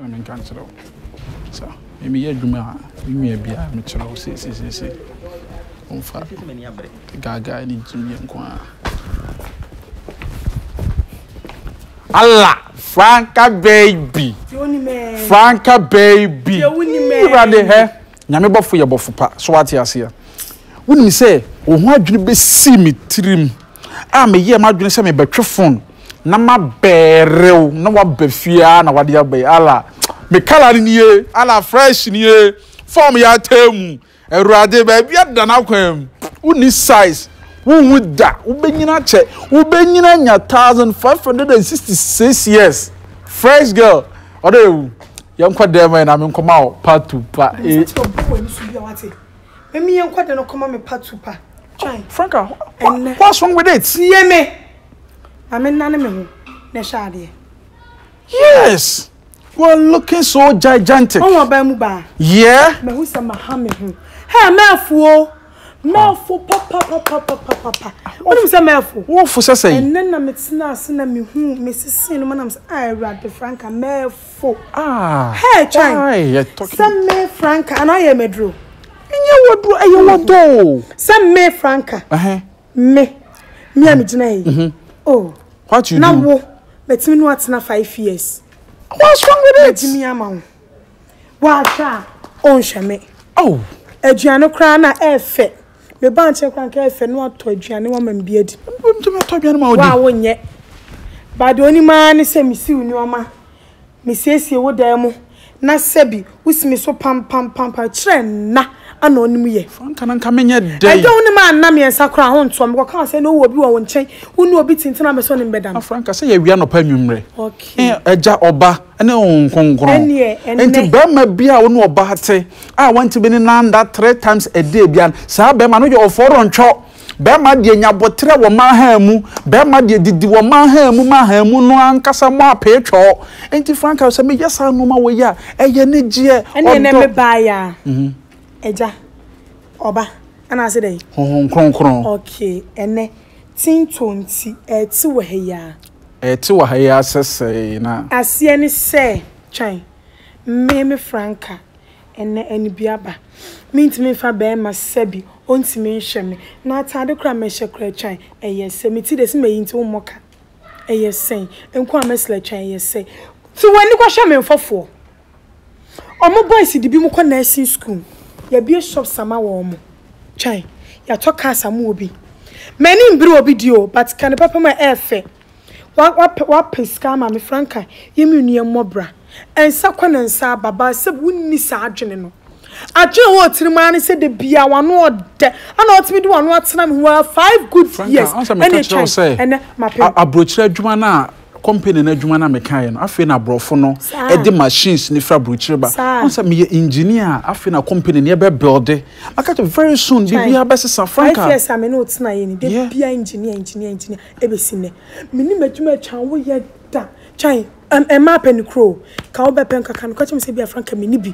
Ma menka nkyerɛ wo sɛ me meyɛ adwuma a me nua bi a mekyerɛ wo seesei womfa gaagae ne gyimie nko ara. Allah franca baby franca baby irade hɛ. Nyame bɔfo yɛ bɔfo pa, so wate aseɛ? Wonim sɛ wo ho adwene bɛsii me tirim a meyɛɛ m'adwene sɛ mebɛtwe fon na mabɛɛre wo na woaba fie aa na wade aba yi ala me kala no nie ala fresh nie fɔm yɛ ataa mu awurade baabi ada no akwan mu wonni size wonwu da wobɛnyina akyɛ wobɛnyina anya 1566 years fresh girl Ɔdɔ ewu. Yɛn kɔ dɛm ɛna mi nkɔ ma wɔ part two pa ee. Misa kyerɛ obi wɔ ɛni so bia wate. Mɛmi yɛn kɔ dɛm no kɔ ma mi part two pa. Twan. Franka, what's wrong with it? Tie me. Ma mi nane mi ho na ɛhyɛ adeɛ. Yes. You are looking so gigantic. Ɔn wɔ baa mu baa. Yeah. Mɛ hu sɛ ma ha mi ho. Hey, mɛ afuo. Mɛɛfo papapapapapapa. Wonim sɛ mɛɛfo? Wofo sɛ sɛn? Ɛnnɛ na metenaa ase na mehuu, mesesee no ma nam sɛ, ah, Awurade, franka, mɛɛfo. Ah, Hɛɛ, Twan, why you're talking? sɛ me franka, anaa yɛ maduro? Ɛnyɛ waduro, ɛyɛ wadɔ o. Sɛ me franka, Ɛhɛn, me, me a megyina ha yi, oh, what you na do? wo, matumi ne wo atena five years, What's wrong with it? magyimi ama wo. W'ahwɛ a ɔnhwɛ me. Oh. Aduane koraa na ɛfɛ. Me ba nkyɛn koraa nka ɛfɛ no atɔ aduane wama me bi adi. Wobɛtumi atɔ aduane ma ɔdi. Wo a wonyɛ. Ba deɛ onim ara ne sɛ mesiw nneɛma, mesiesie wo dan mu na sɛbi wosi me so pampampampam kyerɛ nna ana ɔnim yɛ. Franka na nka menyɛ dɛn. Ɛdɛ wonim a nna mmiɛnsa koraa ho ntoɔ me kɔka wo sɛ na wowɔ obi wɔ wo nkyɛn wone obi tintim a mɛsɛ ɔne me bɛda no. Franka sɛ yɛwea anɔpa anwummerɛ. Okay. Agya ɔba. ne Honhom Kronkron. Ɛnneɛ ɛnnɛ. Enti barima bi a ɔne ɔbaa te, a wɔntumi ne no anna three times a day biara no, saa barima no yɛ ɔfɔrɔntwɔ. Barima deɛ nya aboterɛ wɔ mmaa hann mu. Barima deɛ didi wɔ mmaa hann mu ma hann mu no ankasa mu apee twɔɔ. Enti Franca, sɛ meyɛ saa nnoɔma wei a, ɛyɛ anigyeɛ, ɔdɔ. Ɛnneɛ ɛnnɛ me baeɛ a, Agya, Ɔba, anaasɛ dɛn? Honhom Kronkron. Okay, ɛnnɛ. tintɔ nti ɛɛte wɔ ha yi ara. Ɛɛte wɔ ha yi ara sɛsɛɛ na. Aseɛ ne sɛ, twɛn, mmee me franka, ɛnnɛ anibiaba. Mentumi mfa bɛɛma sɛbi ɔntumi nhwɛ me, na ataade koraa mɛhyɛ koraa twɛn, ɛyɛ sɛ. Me ti de se mayi nti wommɔ ka, ɛyɛ sɛn. Nko a mɛsla twɛn, ɛyɛ sɛ. Te w'ani kɔhwɛ me mfɔfoɔ. Ɔmo boys de binom kɔ nursing school, yɛabue shops ama wɔn, twɛn, yɛatɔ cars ama obi. M'ani mbere obi deɛ o, but ka no papa mu a ɛyɛ fɛ. Wa, wapɛ, wapɛ sika ama me, Franca, yɛn mmienu yɛmmɔ bra. Nsa kɔ na nsa aba, Barseb wonni saa adwene no. Adwene a ɛwɔ wo tirim ara ne sɛ da biara w'ano ɔdɛ, ɛna wotumi de w'ano atena me ho ara five good years, ɛna atwa yi, ɛnɛ mapem. Franca, ansa meka kyerɛ wo sɛ, a, aburokyire adwuma no a. Company no adwuma na mekaeɛ no, afei na aborɔfo no de machines no firi aburokyire ba. Wɔn sɛ meyɛ engineer a, afei na company no yɛbɛ builde. Maka kyerɛ very soon biribiara bɛsesa. Franca. Five years a me ne wo tenaeɛ ni, da biara engineer, engineer, engineer, ɛbɛsi nnɛ. Me nim adwuma a Twan wo yɛ da. Twan, mmaa pɛ ne kuro o. Ka wo bɛ pɛ nka ka no, ka kyerɛ me sɛ ebia Franca me ni bi.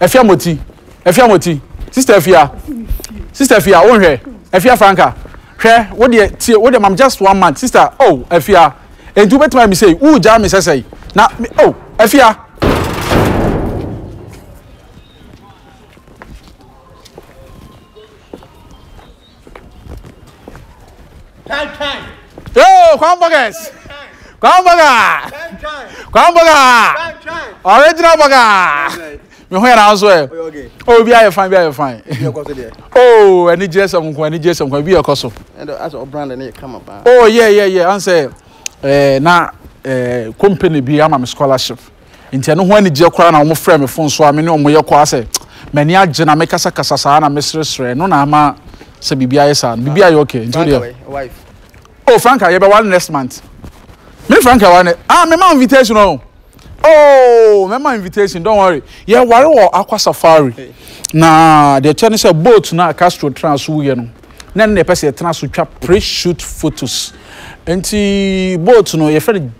Afia moti Afia moti Sister Afia Sister Afia wo nhwɛ Afia Franca hwɛ wo deɛ tie wo deɛ mam just one month Sister oh Afia Enti wobɛtumi ayɛ me sei wo gyaa me sɛsɛi na me oh Afia Yo, Crown Burgers. Crown Burger. Crown Burger. Original Burger. Me ho yɛ na nso ɛ. Oh, bi ayɛ fine, bi ayɛ fine. Oh, ɛni jẹ́ sẹ́mu nkun, ɛni jẹ́ sẹ́mu nkun, bi yɛ kɔ so. Oh, yeah, yeah, yeah. Ansɛ, ɛɛ, eh, na, ɛɛ, eh, company bi ama me scholarship. Enti ɛno ho anigyeɛ koraa na wɔn frɛɛ me fon so a me ne wɔn yɛ kɔ ara sɛ m'ani agye na me kasa kasa saa na me sere sere ɛno na ama sɛ biribi ayɛ saa no biribi ayɛ ok nti wo deɛ oh Franka yɛ bɛ wale next month me Franka wale ne ah me ma invitation oh oh me ma invitation don't worry yɛ ware wɔ akwa safari na deɛ kyɛ ne sɛ boat na Castro tena so yɛ no na ne na ɛpɛ sɛ yɛtena so twa pre shoot photos nti boat no yɛfɛ no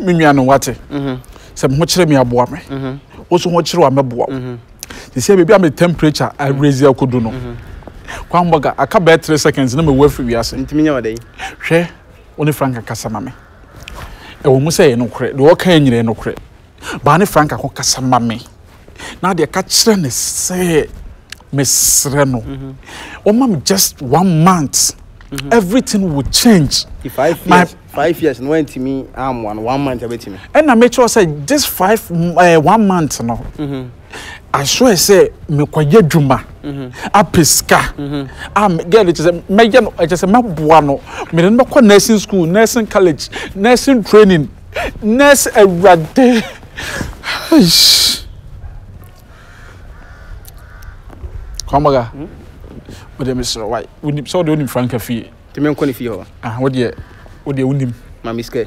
me nua no wate mhm. sɛ me ho kyerɛ me aboa me mhm. wo so ho kyerɛ wa mɛboa wo mhm. te sɛ baabi a me temperature arezi akodu no kwan bɔga aka bɛɛ three seconds na mewu afiri wiase hwɛ wo ne frank kasa ma me ɛwɔ mu sɛ yɛ nokorɛ deɛ ɔka nyina yɛ nokorɛ baa ne franka ho kasa ma me na deɛ ka kyerɛ ne sɛ mesrɛ no ɔma me just one month mhm. everything will change five years five years no wantumi amoa no one month abɛtumi ɛna mekyerɛ sɛ this five uh, one month no mm -hmm. Aso ɛ sɛ mekɔyɛ adwuma apɛ sika a girl kyɛ sɛ mɛyɛ no kyɛ sɛ mɛboa no mede no bɛkɔ nursing school nursing college nursing training nurse awurade kwamaga wode mesrɛ wae wonim sɛ wode wonim franka fie nti menkɔ ne fie hɔ ah wodeɛ wodeɛ wonim ma me sika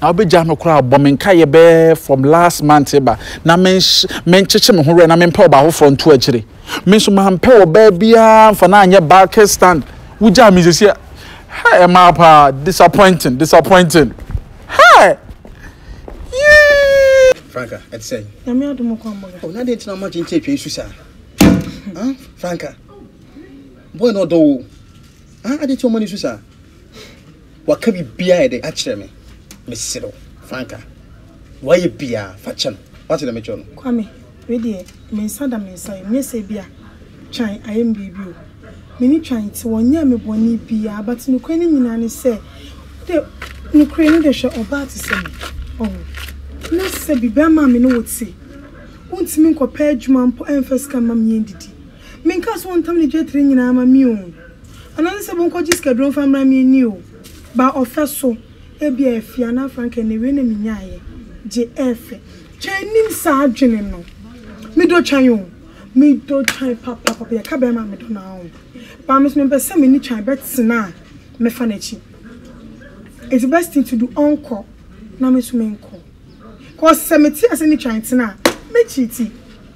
Na wobɛgyaa me koraa bɔ me nkaeɛ bɛyɛ from last month reba na menkyekye me ho werɛ na mempɛ ɔbaa foforɔ nto akyire. Me nso mampɛ ɔbaa biara mfa no anyɛ bucket stand. Wogyaa me sɛsi a Hey ɛmaa paa disappointing disappointing Hey yii. Franca ɛte sɛ. Nyame adom kɔ amɔga. Oh na deɛ ntina ɔma kyenkye atwa isu saa. Ah Franca boy na ɔdɔ wo. Ah adeɛ ti ɔma no isu saa. Waka biribiara a ɛde akyerɛ me. Mesrɛ wo, fa nka. Nea wayɛ biara, fa kyɛ no. Woate nea mekyerɛ no? Kwame, wei deɛ, me nsa da me nsa yam. Nyɛ sɛ ebia Twan ayɛ me biribi o. Me ne Twan te, wanyɛ me bɔne biara. But nokorɛ no nyinaa ne sɛ, wo deɛ, nokorɛ ni deɛ, hwɛ ɔbaa te sɛ me. Wahu? Na sɛ biribiara maa me ne wo te, wontumi nkɔpɛ adwuma mpo ɛmfa sika mma me yɛndidi. Menkaa sɛ wɔntam ne dwetire nyinaa ma me oo, anaa ne sɛ monkɔgye sikaduro mfa mmra me ani oo, baa ɔfɛ so, ebia afie anaa frankaa na awiei na menyaeɛ, gye ɛɛfɛ. Twan nnim saa adwene no. Medɔ Twan oo, medɔ Twan papaapa, yɛka bɛɛma a medɔ no ara oo, baa me nso mempɛ sɛ me ne Twan bɛtena a mɛfa n'akyi. It's the best thing to do, ɔnkɔ na me nso menkɔ, cos sɛ mete ase ne Twan tena a, mɛkyiiti.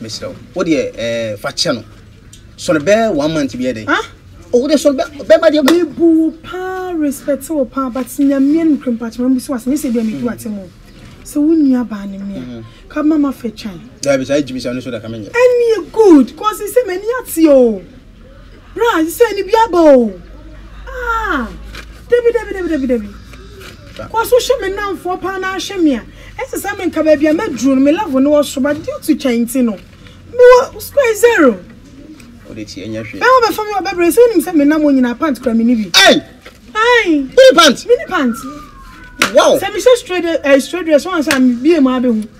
Mesrɛ wo, wo deɛ ɛɛ fa kyɛ no. Sɔre bɛɛ one month bi yɛ dɛ. Ah? Ɔwɔ deɛ sɔre bɛ bɛma deɛ. Me bu wo paa respect wo paa but Nyamea nim kura mpakyɛ ma bisa wo asɛm nyɛ sɛ ebia me di wo atem o sɛ wo nua baa ne mmea ka ma ma fɛ twan. Daabi saa gyimisa no so da ka me nyɛ. Ɛneɛ good cause sɛ m'ani ateɛ o. Bra sɛ ne bi aba o. Ah, dabi dabi dabi dabi dabi. Kɔ so hwɛ me nnamfoɔ paa na ahwɛ me a. Ɛsɛ sɛ menka baabi a maduru no me level no wɔ so but due to twɛn nti no mewɔ square zero. Wode ti ɛnyɛ hwee. Bɛma bɛfa me wɔ bɛbrɛ sɛ wonim sɛ me nam onyina pant kura mini bi. Ei! Ai! Wone pant? Mini pant. Wow! Sɛ mehyɛ straight eh, straight dress wɔn sɛ a mebie mu abɛhu.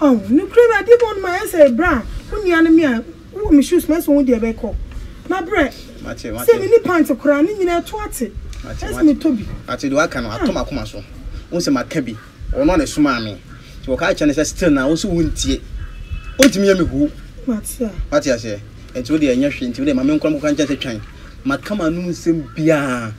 Oh nokorɛ me adeɛ mu ɔnom ayɛ sɛ bra wo nua no me a wo wɔ me shoes mu ɛsɛ wo deɛ bɛ kɔ ma brɛ sɛ me ni pant koraa ne nyina ɛto ate ɛsɛ me tɔ bi. Mate deɛ waka no ato makoma so wo sɛ maka bi ɔno a na ɛsomaa me nti wɔ ka kyerɛ no sɛ still na wo sɛ wo ntie ontumi yɛ me huu wate aseɛ nti wo deɛ ɛnyɛ hwee nti wo deɛ ma me nkɔ nkɔ ka nkyɛn sɛ twan maka ma nom nsɛm biaa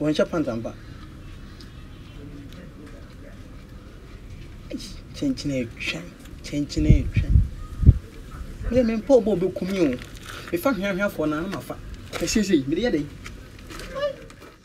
Wɔnhyɛ pant ampa. Eish kyenkyen etwa kyenkyen etwa. Me de me mpa obo obeku me o. Me fa hweahweafoɔ na na mafa. Ɛsiesie mede yɛ dɛn.